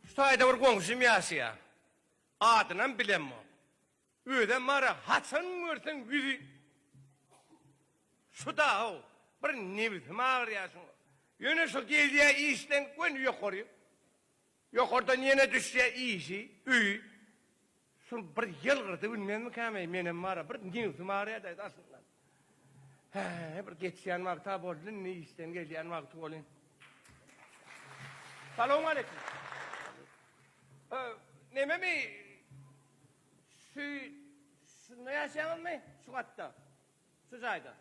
Şu taýda bir goňşym ýaşaýa. Adynam bilemok. Özem bara haçan görseň ýüzi şu da-ow. Bir nebisim agyrýa şuň. Ýöne şu gelýä işden göni ýokary. Ýokardan ýene düşýä işi, öýi. Şul bir ýylgyrdy bilmezmikäm-eý, menem bar-a, bir nebsim agyrýardy-aý daşyndan. Hä-ä, bir geçýän wagty-a boldy, indi işden gelýän wagty welin. Salowmaleýkim. Ö, nememi, şu, şunda ýaşaýaňyzmy, şu gatda, şu jaýda?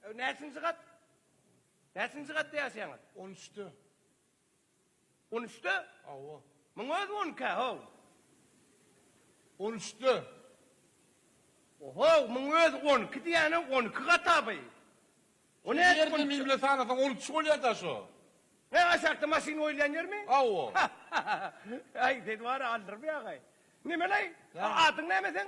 Ö, näçinji gat? Näçinji gatda ýaşaýaňyz? On üçde. On üçde? Hawa. Muň özi on ikä, how? On üçde. Ohow, muň özi on iki diýýäne, on iki gataby. O nädip on üçe? Şo ýerde mimle sanasaň on üç bolýar-da şo. Hä, aşakda maşyn goýulýan ýermi? Hawa. Äý, seni bar-a aldyrmaýagaý. Neme-leý? Adyň näme seň?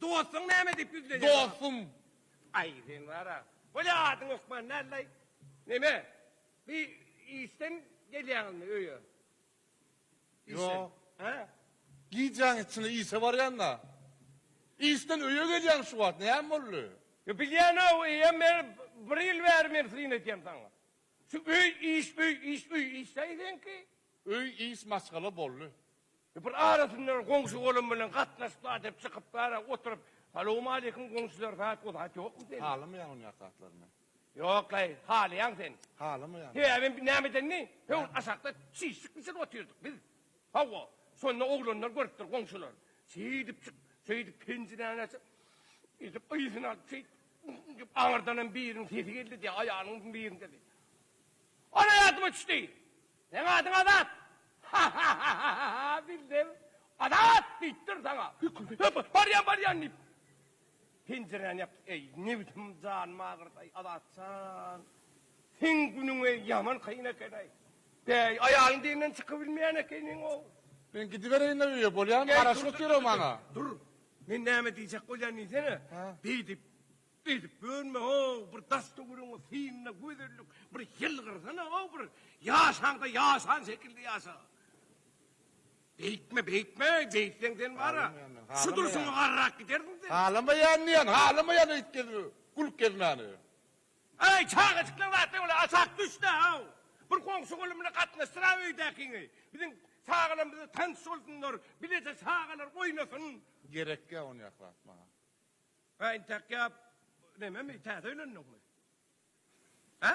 Dostuň näme diýip ýüz berýär? Dostum. Aý, sen bar-a. Bolýa, adyň hökman näleý? Neme, bi işden gelýäňizmi öýe? Ýok. Hä? Gijäň içine işe barýan-da. Işden öýe gelýäň şu wagt, näme boldy? Ýa, bilýän-ow, eýýäm men bir ýyl bäri men syn edýän saňa. Şu öý, iş, öý, iş, öý, işdäý seňki. Öý, iş, maşgala boldy. Bir arasyndan goňşy golam bilen gatnaşyplar dep çykyplara oturyp salowmaleýkim goňşylar zat o zat ýokmy sende. Halamaýan ony ýat zatlaryny. Ýoklaý halaýaň sen. Halamaýan. Sebäbi näme edenini hö aşakda çişlik biçen otyrdyk biz. Hawa şonda oglanlar görüpdir goňşylar. Şeýdip çyk şeýdip penjiräni açyp edip yzyny alyp şeýdip dep aňyrdanam biriniň sesi geldi diýýär aýalyň biriniň sesi. Ana ýadyma düşdi. Seň adyň Azat! Hahahahaha! Bildim! Azat! diýipdir saňa! Hüp-hüp! Barýan, barýan! diýip, penjiräni ýapdy. Eý, nebsim, janym agyrdy-aý, Azat jan! Seň günüň-ä ýaman kyn eken-aý! Bäý, aýalyň deňinden çykybilmeýän ekeniň-ow! Men gidibereýin-le öýe, bolýamy? Garaşyp otur-a maňa! Dur! Men näme diýjek bolýan diýsene! Beýdip, Edip görme-ow bir das-töweregiňe synla gözellik bir ýylgyrsana-ow bir ýaşaňda ýaşan şekilde ýaşa. Beýtme beýtme beýtseň sen bara şu durşuňa garrak gidersiň sen. Halamaýan diýen halamaýan öýt gezme gülüp gezmäni. Äý çagajyklar zatda bolýa aşak düşdä-ow bir goňşy gulumyna gatnaşdyr-a öýdäkiňi biziň çagalarymyza tanyş bolsunlar bileje çagalar oýnasyn. Gerekýä onýak zat maňa. Gaýyn takýap nememi täze öýlendiňmi? Hä?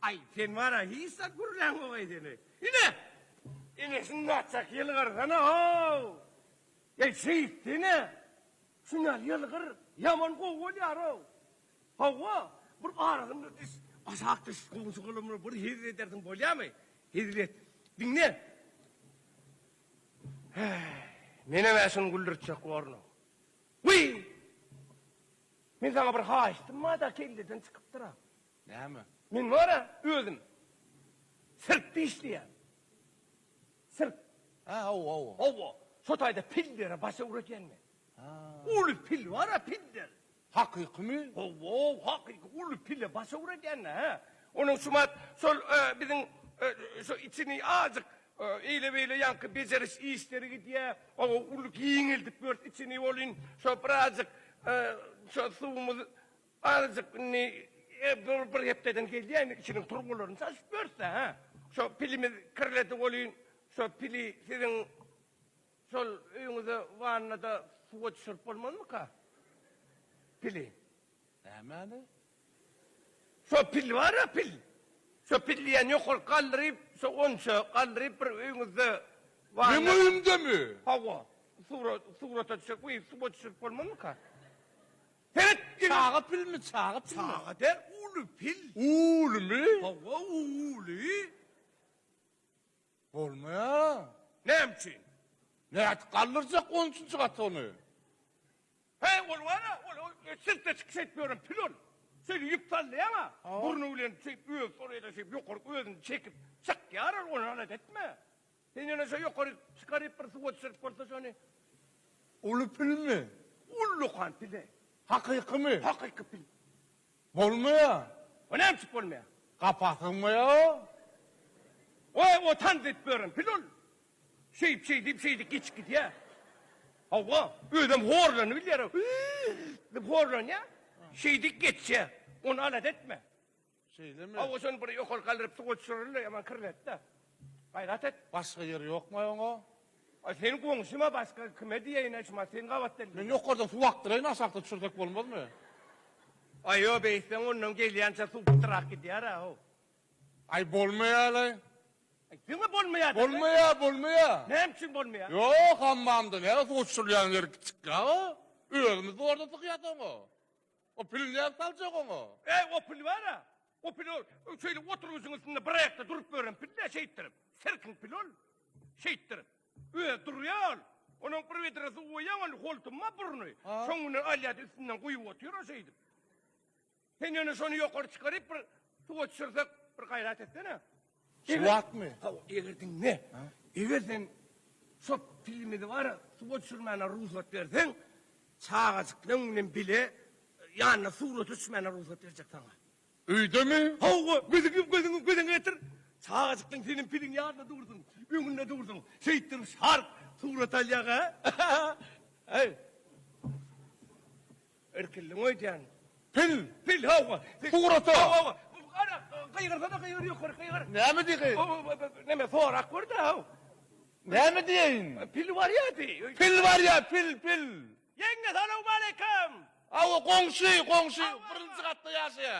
Aý, sen bar-a hiç zat gürläňok aý seni. Ine! Ine şunda atjak ýylgyrsana-ow! Eý, şeýt seni! Şuna ýylgyr, ýaman gowy bolýar-ow! Hawa, bir arasynda düş, aşak düş, goňşy gylymly bir hezil edersiň bolýamy? Hezil et. Diňle! Häý, menem-ä şuny güldürtjek borlum. Wiý! Men saňa bir haýyştym bar-da, kelleden çykypdyr-a. Näme? Men bar-a, özüm sirkde işleýän. Sirk. Hä, hawa-hawa. Hawa, şo taýda pillere baş öwredýän men. Uly pil bar-a, piller. Hakykymy? Hawa, hakyky uly pile baş öwredýänä hä. Onuň şumat şol biziň şu içini azajyk eýle-beýle ýaňky bejeriş işleri gidýä. Hawa, uly giňeldip ýörüs içini welin, şo birazajyk şo suwumyz azajyk indi bir hepdeden gelýämi içiniň turbalaryny çalşyp ýörüs-dä hä. Şo pilimiz kirledi welin, şo pili siziň. Şol öýüňize wannada suwa düşürip bolmazmyka pili? Nämäni? Şo pil bar-a, pil. Şo pil diýýän ýokaryk galdyryp, şo gonça galdyryp bir öýüňizde wanna. Meň öýümdemi? Hawa. Surat, surata düşürip, guýup suwa düşürip bolmazmyka? Seret diňe. Çaga pilmi, çaga pilmi? Çaga däl, uly pil. Ulymy? Hawa, uly. Bolmaýar. Näme üçin? Nädip galdyrjak on üçünji gata ony? He, ol bar-a, ol sirkde çykyş edip ýören pil ol. Şeýle ýüp sallaýaň-a, burny bilen şeýip özi soraýda şeýip ýokaryk özüni çekip çykýar ol, ony alada etme. Sen ýöne şo ýokaryk çykaryp bir suwa düşürip bolsa şony. Uly pilmi? Ullakan pil-e. Hakykymy? Hakyky pil. Bolmaýa. O nämçik bolmaýa? Gapa sygmaýa. Goý, otan diýip bören pil ol. Şeýip şeý diýip şeýdip geçip gidýä. Hawa, özem horlanyp bilýär-ow. Diýip horlanýa. Şeýdip geçýä. Ony alada etme. Şeýlemi? Hawa, şony bir ýokary galdyryp suwa düşüreli-de, ýaman kirletdi. Gaýrat et. Başga ýeri ýokmaý oňa? A sen goňşyma başga kime diýeýin eş maşyn gabat dil. Men ýokardan suw akdyraýyn aşakda düşürsek bolmazmy. Aý ýo beýtseň ondan gelýänçä suw pytyrak gidýärä how. Aý bolmaýalaý. Aý diňe bolmaýa diňe. Bolmaýa bolmaýa. Näme üçin bolmaýa. Ýo hammamda näme suw düşürilýäni ýeri kiçik ýa o. Özümiz zorda sykyýas oňa. O pili nädip saljak oňa? Äý, o pil bar-a. O pil ol, şeýle oturgyjyň üstünde bir aýakda durup ýören pil-dä şeýtdirip. Sirkiň pili ol. Şeýtdirip. Özi durýa ol. Onuň bir widra suw goýýaň, ol holtuma burny. Şoň bilen alýa-da üstünden guýup otyr o şeýdip. Sen ýöne şony ýokary çykaryp, bir suwa düşürsek, bir gaýrat etsene. Şu wagtmy? Hawa, eger diňle. Eger sen şo filmini bar, suwa düşürmäne rugsat berseň, çagajyklaň bilen bile ýanyna surata düşmäne rugsat berjek saňa. Öýdemi? Hawa, gözüňi gözüňi göz öňe getir. Çagajyklaň seniň piliň ýanynda dursun, öňünde dursun. Şeýtdirip şarp surat alýaňa. Äý. Irkildiň öýdýän. Pil! Pil! Hawa! Sugrata! Hawa, hawa! Gara, gygyrsa-da gygyr, ýokary gygyr. Näme diý gyg? Näme, sorap gör-dä, haw! Näme diýeýin? Pil barýa diý. Pil barýa, pil, pil! Ýeňňe, salowmaleýkim! Hawa, goňşy, goňşy, birinji gatda ýaşaýa.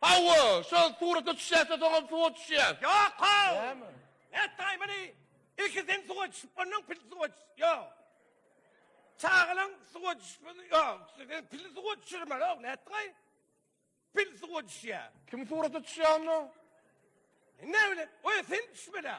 Hawa, şol surata düşýäs-de soňam suwa düşýäs. Ýok-ow! Näme? Nätdaý muny? Ilki sen suwa düşüp, ondan pil suwa düşüp. Ýok. Çagalaň suwa düşmesi ýok. Sen pili suwa düşürmeli-ow, nätdiňaý? Pil suwa düşýär. Kim surata düşýär onda? Men näbileýin. Oýa sen düşmeli-ä.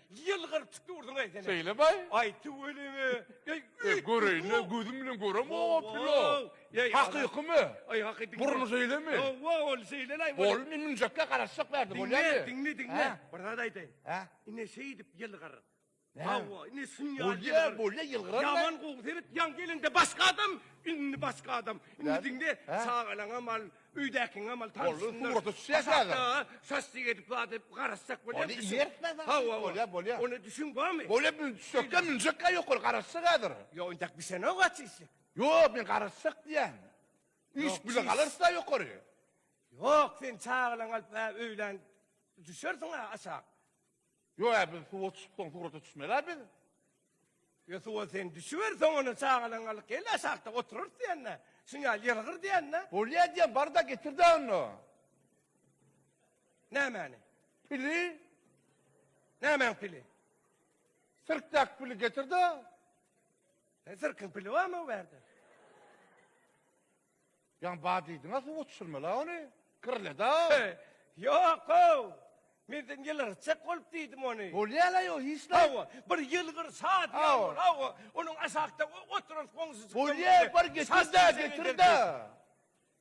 Ýylgyryp çykdy urduň aý seni. Şeýle baý. Aý tüweleme. Ey Ey göreýin-le gözüm bilen görem o pilo. Ey, Hakykymy? Aý hakyky. Burny şeýlemi? Hawa ol şeýle-laý. Bol men münjek-le garaşjak bärde bolýar. Diňle, diňle, diňle. Bir zat aýdaýyn. Hä? Ine şeýdip ýylgyr. Hawa, ine şuny ýaly. Bolýa, bolýa ýylgyran. Ýaman gowy sebet ýaň gelende başga adam, indi başga adam. Indi diňle çagalaňam al. Öýdäkiň amaly tanşynyňdyr. Ol surata düşýär häzir. Başakda şaşlyk edip zat edip garaşjak bolýar. Ony iýertmez zat. Hawa, bolýar, bolýar. Ony düşüň barmy? Bolýar, bu düşekden münjekkä ýokary garaşjak häzir. Ýok, intäk bişenok-a çişlik. Ýok, men garaşjak diýýän. Üýşüp bile galarys-a ýokary. Ýok, sen çagalaňy alyp-ä öýlän düşersiň-ä aşak. Ýo-a, biz suwa çykyp soň surata düşmeli-ä biz. Ýo, suwa sen düşüber, soň ony çagalaňy alyp gel-de, aşakda oturarys diýende, şuň ýaly ýylgyr diýende. Bolýa diýen, bar-da, getir-dä onda. Nämäni? Pili. Nämäň pili? Sirkdäki pili getir-de. Sirkiň pili barmy o bärde? Ýa bar diýdiň-ä suwa düşürmeli-ä ony. Kirledi-ow. He, ýok-ow. Men sen ýylgyrtjak bolup diýdim ony. Bolýa-la ýok, hiç näme. Hawa, bir ýylgyrsa diýýän ol, hawa, onuň aşakda oturan goňşujykdan. Bolýa, bar getir-de, getir-de.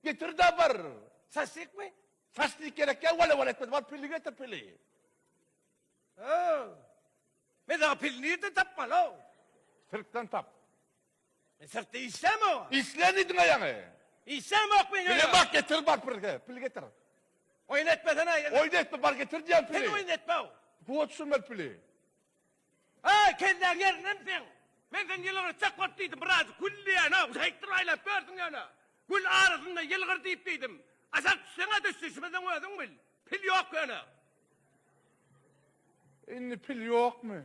Getir-de bir. Şaşlykmy? Şaşlyk gerek ýok, wala-wala etmez. Bar pili getir, pili. Haw. Men sana pili nirden tapmaly-ow? Sirkden tap. E syrtda işleme oňa. Işleýin diýdiň aýaňy. Işleyemok men öýe. Pili bak getir bak bir he pil getir. Oýun etmesene. Oýun etme bar getir diýen pili. Sen oýun etme. Puwa düşürmeli pili. Heý kelläň ýerinemi seň? Men sen ýylgyry çek bolup diýdim biraz gül diýen ha şeýtdir aýlap gördüň ýöne. Gül arasynda ýylgyr diýip diýdim. Aşak düşseňä düş düşmeseň özüň bil. Pil ýok ýöne. Indi pil ýokmy?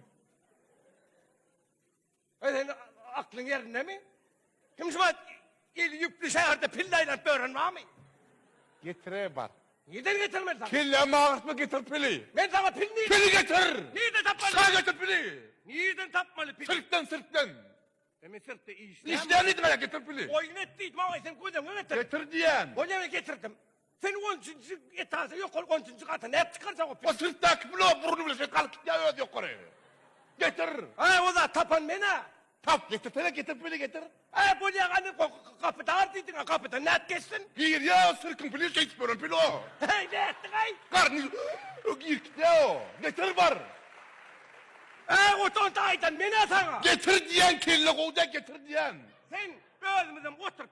Öý sen aklyň ýerindemi? Kim şuňa il ýüpli şäherde pille aýlanyp ýören barmy? Getire bar. Nirden getireyim men sana? Kellämi agyrtma getir pili. Men sana pil nirden? Pili getir! Nirden tapmaly? Şa getir pili! Nirden tapmaly pili? Sirkden sirkden. E men sirkde işleyemem. Işleýän diýdim getir pili. Oýun et diýdim awa sen gözüňe getir. Getir diýen. Bolýa men getirdim. Sen on üçünji etajda ýokary on üçünji gata nädip çykarjaň o O syrtdaky blok burny bilen şeýle galyp gitýär özi ýokary. Getir. Hä, o zat tapan men-ä. Tap, getirsene, getirip bile getir. Hä, bolýa gani, gapy dar diýdiň-ä, gapydan nädip geçsin? Girýär o syrkyň pili şeýdip ýören pil o. Heý, nätdiň-aý? Garny o girip gitýär o. Getir bar. Hä, ot onda aýdan men-ä saňa. Getir diýýän, kelle gowy däl, getir diýýän. Sen özümizem oturyp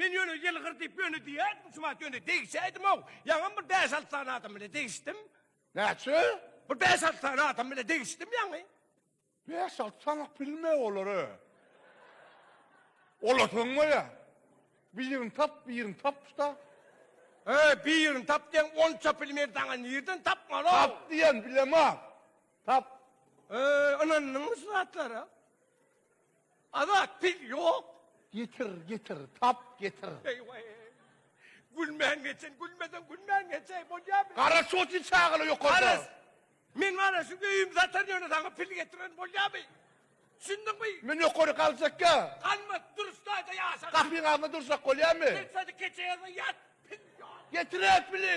Men ýöne ýylgyr diýip ýöne diýerdim şumat ýöne degişäýdimow. Ýaňam bir bäş-alty sany adam bilen degişdim. Näçe? Bir bäş-alty sany adam bilen degişdim ýaňy. Bäş-alty sany bilme olary. Olar soňňaýa. Birini tap, birini tapyş-da. He, birini tap diýen onça pili men saňa nirden tapmaly? Tap diýen bilemok. Tap. He, ynandyňmy şu zatlara? Azat pil ýok. Getir, getir, tap, getir. Eý-waý. Gülmän geçen, gülmeseň gülmän geçäý, bolýamy? Gara şoty çagala ýokarda. Garaz, meň ana şu öýümi satan ýöne saňa pil getiren bolýamy? Düşündiňmi? Men ýokary galjakka. Galmat, durş taýda ýaşa. Gapyň agzynda durjak bolýamy? Sen şony keçe ýazga ýat, pil ýok. Getir-ä pili!